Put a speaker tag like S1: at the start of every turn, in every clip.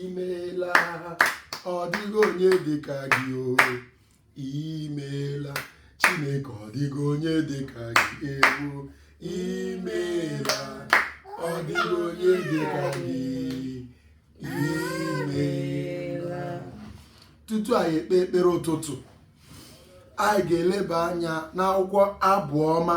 S1: imeela ọ dịghị onye dịka gị o imeela chineke ọ dịghị onye dịka gị ewo imeela ọ dịghị onye dịka gị imeela tutu anyị ekpe ekpere ụtụtụ anyị ga-eleba anya n'akwụkwọ abụ ọma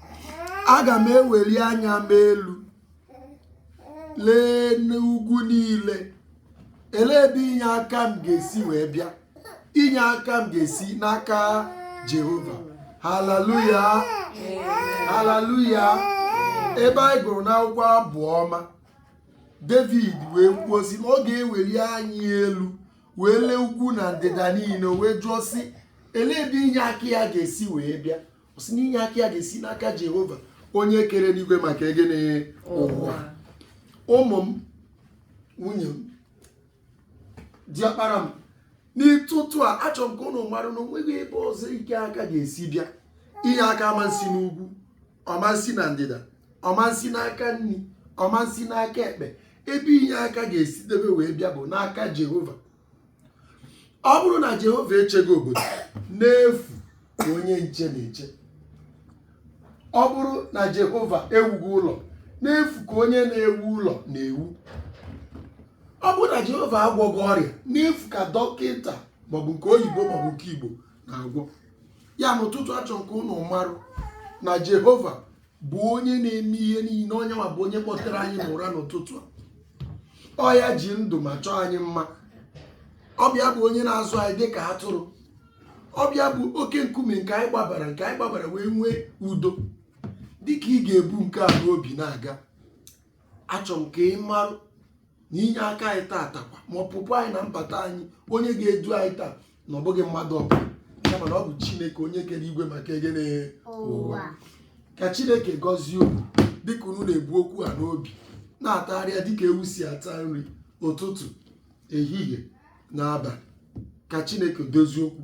S1: aga m eweli anya m elu lee n'ugwu niile elee ebe inye aka m ga-esi wee bịa inye aka m ga-esi n'aka jehova haleluya haleluya ebe anyị gụrụ n'akwụkwọ abụ ọma david wee kwuo sị na ọ ga-eweli anya elu wee lee ugwu na ndịda niile wee jụọ sị elee ebe inye aka ya ga-esi wee bịa ọ sị na inye aka ya ga-esi n'aka jehova onye kere enigwe maka egene ụwa ụmụ m nwunye m diọkpara m n'ụtụtụ a achọrọ m ka ụnụ mara na onweghị ebe ọzọ inye aka ga-esi bịa inye aka amansi n'ugwu ọ mansi na ndịda ọ mansi n'aka nri ọ mansi n'aka ekpe ebe inye aka ga-esi debe wee bịa bụ n'aka jehova ọ bụrụ na jehova echeghị obodo n'efu ka onye nche na-eche ọ bụrụ na jehova ewughị ụlọ n'efu ka onye na-ewu ụlọ na-ewu ọ bụrụ na jehova agwọghị ọrịa n'efu ka dọkịta maọbụ nke oyibo maọbụ nke igbo na-agwọ ya n'ụtụtụ a achọ m ka ụnụ marụ na jehova bụ onye na-eme ihe niile ọ ya nwa bụ onye kpọtere anyị n'ụra n'ụtụtụ a ọ ya ji ndụ ma chọọ anyị mma ọ bụ ya bụ onye na-azụ anyị dị ka atụrụ ọ bụ ya bụ oke nkume nke anyị gbabara nke anyị gbabara wee nwee udo dịka ị ga-ebu nke a n'obi na-aga achọ m ka ị marụ na inye aka anyị taata kwa ma ọpụpụ anyị na mbata anyị onye ga-edu anyị taa na ọ bụghị mmadụ ọbụla kama na ọ bụ chineke onye kere igwe maka egene ụwa ka chineke gọzie unu dịka unu na-ebu okwu a n'obi na-atagharịa dịka ewu si ata nri ụtụtụ ehihie na abalị ka chineke dozie okwu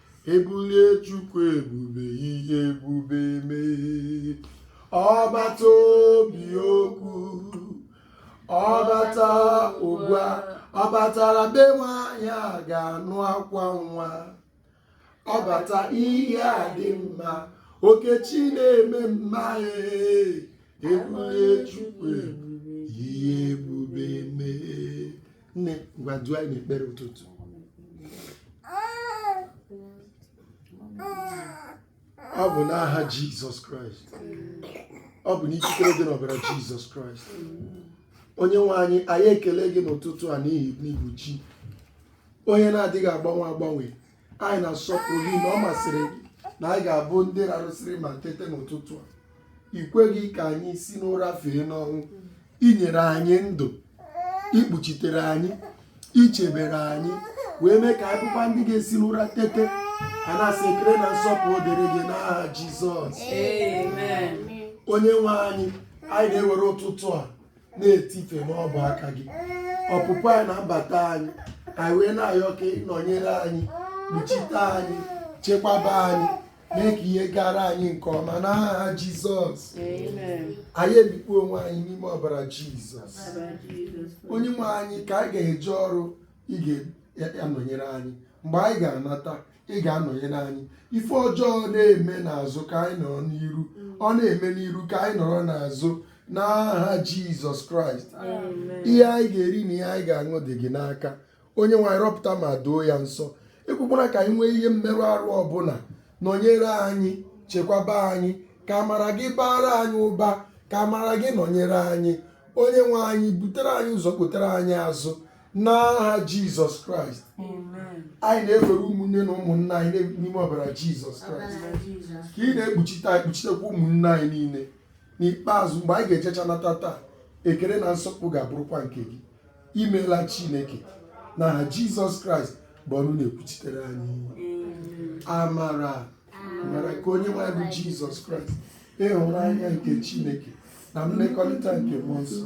S1: ebulie chukwu ebube ihe ebube emee ọ bata o bie okwu ọ bata ụgwa ọ batara be nwaanyị aga anụ akwa nwa ọ bata ihe adị mma okechi na-eme mma ee ebulie chukwu ebube ihe ebube emee nne ngwa duo anyị n'ekpere ụtụtụ ọ bụ n'aha jizọs kraịst ọ bụ n'ikikere dị n'ọbara jizọs kraịst onye nwe anyị anyị ekele gị n'ụtụtụ a n'ihi na ị bụ chi onye na-adịghị agbanwe agbanwe anyị na-asọpụrụ gị na ọ masịrị gị na anyị ga-abụ ndị rarụsịrị ma tete n'ụtụtụ a i kweghị ka anyị si n'ụra fee n'ọnwụ i nyere anyị ndụ i kpuchitere anyị i chebere anyị wee mee ka anyị bụkwa ndị ga-esi n'ụra tete a na-asị ekele na nsọpụrụ dịrị gị n'aha Jizọs Amen.
S2: onye
S1: nwe anyị anyị na-ewere ụtụtụ a na-etife n'ọbụ aka gị ọpụpụ anyị na mbata anyị anyị wee na-ayọ ka ị nọnyere anyị kpuchite anyị chekwaba anyị mee ka ihe gara anyị nke ọma n'aha jizọs anyị emikpu onwe anyị n'ime ọbara jizọs onye nwe anyị ka anyị ga-eje ọrụ ị ga-anọnyere anyị mgbe anyị ga-anata ị ga-anọnyere anyị ife ọjọọ na-eme n'azụ ka anyị nọrọ n'iru ọ na-eme n'iru ka anyị nọrọ n'azụ n'aha jizọs kraịst ihe anyị ga-eri na ihe anyị ga-aṅụ dị gị n'aka onye nwe anyị rọpụta ma doo ya nsọ ekwekwara ka anyị nwee ihe mmerụ arụ ọbụla nọnyere anyị chekwaba anyị ka amara gị baara anyị ụba ka amara gị nọnyere anyị onye nwe anyị butere anyị ụzọ kpotere anyị azụ n'aha jizọs kraịst anyị na-ewere ụmụnne na ụmụnna anyị n'ime ọbara jizọs kraịst ka ị na-ekpuchite anyị kpuchitekwa ụmụnne anyị niile n'ikpeazụ mgbe anyị ga-ejecha nata taa ekele na nsọpụrụ ga-abụrụkwa nke gị imeela chineke n'aha jizọs kraịst bụ ọnụ na-ekwuchitere anyị amara nke onye nwe anyị bụ jizọs kraịst ịhụnanya nke chineke na mmekọrịta nke mmụọ nsọ